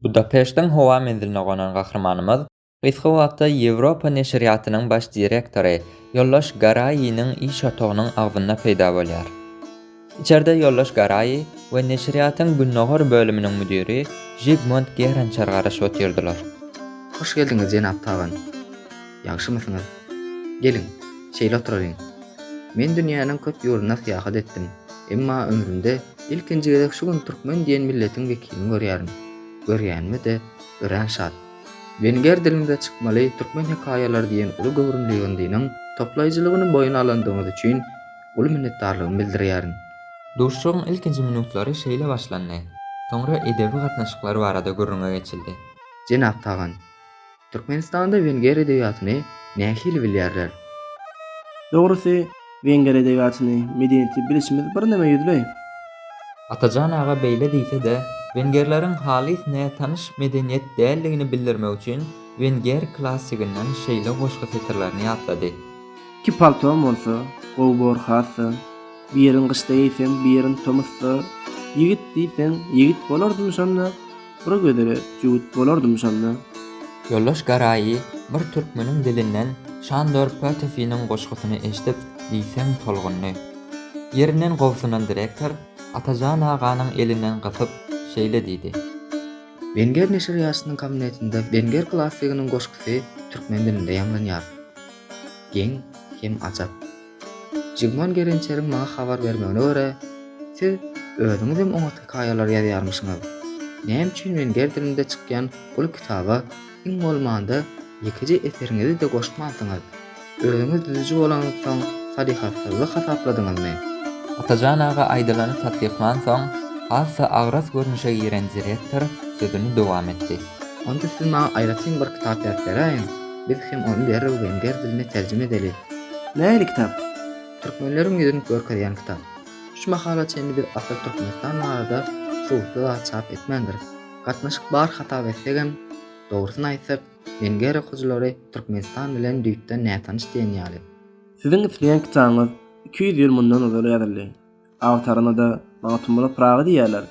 Budapeştiň howa menziline gonan gahrymanymyz gysga wagtda Ýewropa neşirýatynyň baş direktory ýoldaş Garaýiniň iş otagynyň agzynda peýda bolýar. Içerde ýoldaş Garaýi we neşirýatyň gündogar bölüminiň müdiri Žigmund Gerançer garaşyp otyrdylar. Hoş geldiňiz jenap Tagan. Ýagşymysyňyz? Geliň, şeýle oturalyň. Men dünýäniň köp ýurduna syýahat etdim, emma ömrümde ilkinji gezek şu gün türkmen diýen milletiň wekilini görýärin. Görýänime-de örän şat. Wenger diliňize çykmaly türkmen hekaýalary diýen uly göwrümli ýygyndynyň toplaýjylygyny boýun alandygyňyz üçin uly minnetdarlygymy bildirýärin. Duşuşygyň ilkinji minutlary şeýle başlandy. Soňra edebi gatnaşyklar barada gürrüňe geçildi. Jenap Tagan, Türkmenistanda wenger edebiýatyny nähili bilýärler? Dogrusy, wenger edebiýatyny, medeniýeti bilişimiz birneme ýüzli. Atajan aga beýle diýse-de, wengerleriň halys nätanyş medeniýet däldigini bildirmek üçin wenger klassiginden şeýle goşgy setirlerini ýatlady. Iki paltom bolsa, gowy bor has-da, Birin gyşda geýsem, birin tomusda, Ýigit diýseň, ýigit bolardym şonda. Bura gözele jüwüt bolardym şonda. Ýoldaş Garaýy bir türkmeniň dilinden Şandor Pötefiniň goşgusyny eşidip diýseň tolgundy. Ýerinden gobsunan direktor Atajan aganyň elinden gysyp, şeýle diýdi. Wenger neşirýatynyň kabinetinde Wenger klassiginiň goşgusy türkmen dilinde ýaňlanýar. Geň hem ajap. Jigman Gerençeriň maňa habar bermegine görä, siz özüňizem oňat hekaýalar ýazýarmyşyňyz. Näme üçin men ger dilinde çykýan bul kitaba iň bolmanda ýekeje eseriňizi-de goşmansyňyz? Özüňiz düzüji bolanyňyzsoň salyhatsyzlyk hasapladyňyzmy? Atajan aga aýdylany tassyklansoň, has-da agras görnüşe giren direktor sözüni dowam etdi. Onda siz maňa aýratyn bir kitap ýazyp beräýiň, biz hem ony derrew wenger diline terjime edeli. Nähili kitap? Türkmenleriň ýüzün görkezýän kitap. Şu mahala çenli biz asyl Türkmenistan barada subutly zat çap etmändiris. Gatnaşyk bar hasap etsegem, dogrusyny aýtsak, Wenger okyjylary Türkmenistan bilen düýpden nätanyş diýen ýaly. Siziň isleýän kitabyňyz iki ýüz ýyl mundan ozal ýazyldy. Agtaryna-da Magtymgula Pyragy diýýärler.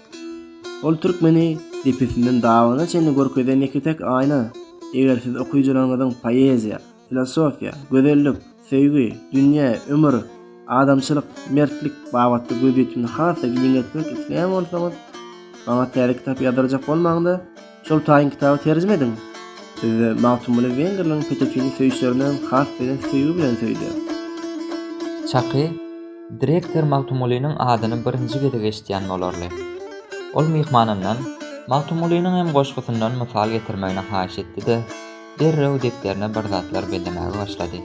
Ol türkmeni depesinden dabyna çenli görkezen ýeke-täk aýna. Eger siz okyjylaryňyzyň poeziýa, filosofiýa, gözellik, söýgi, dünýä, ömür, adamçylyk, mertlik babatda gözýetimini has-da giňeltmek isleýän bolsaňyz, maňa täze kitap ýazdyrjak bolmaň-da, Şol taýyn kitaby terjime ediň. Bizde Magtymguly Wengerleriň Petekini söýüşlerinden has belent söýgi bilen söýdü. Çaky, direktor Magtymgulynyň adyny birinji gezek eşidýän bolarly. Ol myhmanyndan Magtymgulynyň hem goşgusyndan mysal getirmegini haýyş etdi-de, derrew depderine bir zatlar bellemäge başlady.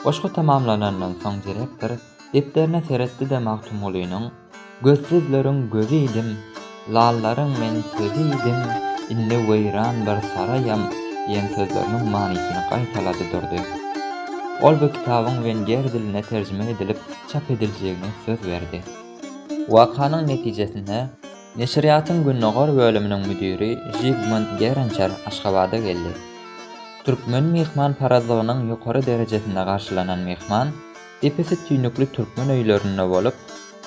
Goşgy tamamlanandan soň direktor. Depderine seretdi-de Magtymgulynyň, Gözsüzleriň gözi idim, lallaryň men sözi idim, indi weýran bir saraýam diýen sözleriniň manysyny gaýtalady durdy. Ol bu kitabyň wenger diline terjime edilip çap ediljegine söz berdi. Wakanyň netijesinde, neşirýatyň gündogar bölüminiň müdiri Žigmund Gerençer Aşgabada geldi. Türkmen myhmanparazlygynyň ýokary derejesinde garşylanan myhman, Depesi tüýnükli türkmen öýlerinde bolup,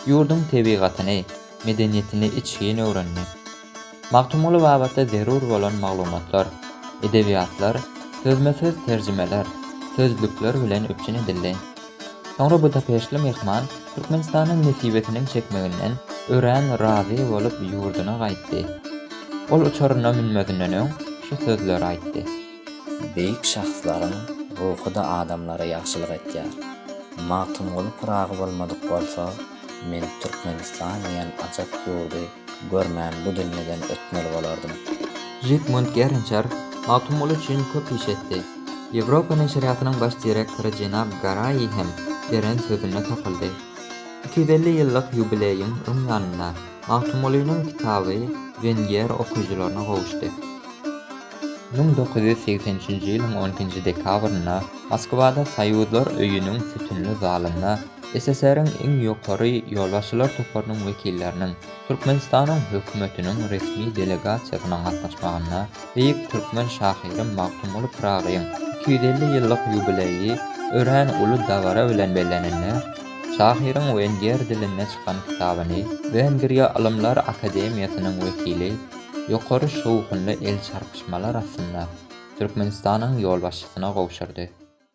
ýurduň tebigatyny, medeniýetini içgin öwrendi. Magtymguly babatda zerur bolan maglumatlar, edebiýatlar, sözme-söz terjimeler, sözlükler bilen üpjün edildi. Soňra budapeştli myhman Türkmenistanyň nesibesiniň çekmeginden örän razy bolup ýurduna gaýtdy. Ol uçaryna münmezinden öň şu sözleri aýtdy. Beýik şahslaryň ruhy-da adamlara ýagşylyk etýär. Magtymguly Pyragy bolmadyk bolsa, men Türkmenistan diýen ajap ýurdy görmän bu dünýeden ötmeli bolardym. Žigmund Gerinçer Magtymguly üçin köp iş etdi. Ýewropa neşirýatynyň baş direktory jenap Garaýi hem beren sözünde tapyldy. Iki ýüz elli ýyllyk ýubileýiň öň ýanynda Magtymgulynyň kitaby Wengiýer okyjylaryna gowuşdy. Müň dokuz ýüz segsen üçünji ýylyň on ikinji dekabrynda Moskwada Soýuzlar öýüniň sütünli zalynda SSR-iň iň ýokary ýolbaşçylar toparynyň wekilleriniň, Türkmenistanyň Hökümetiniň resmi delegasiýasynyň gatnaşmagynda beýik türkmen şahyry Magtymguly Pyragyň iki ýüz elli ýyllyk ýubileýi örän uly dabara bilen bellenildi. Şahyryň wenger dilinde çykan kitabyny Wengriýa Ylymlar akademiýasynyň wekili, ýokary şowhunly el çarpyşmalar astynda Türkmenistanyň ýolbaşçysyna gowşurdy.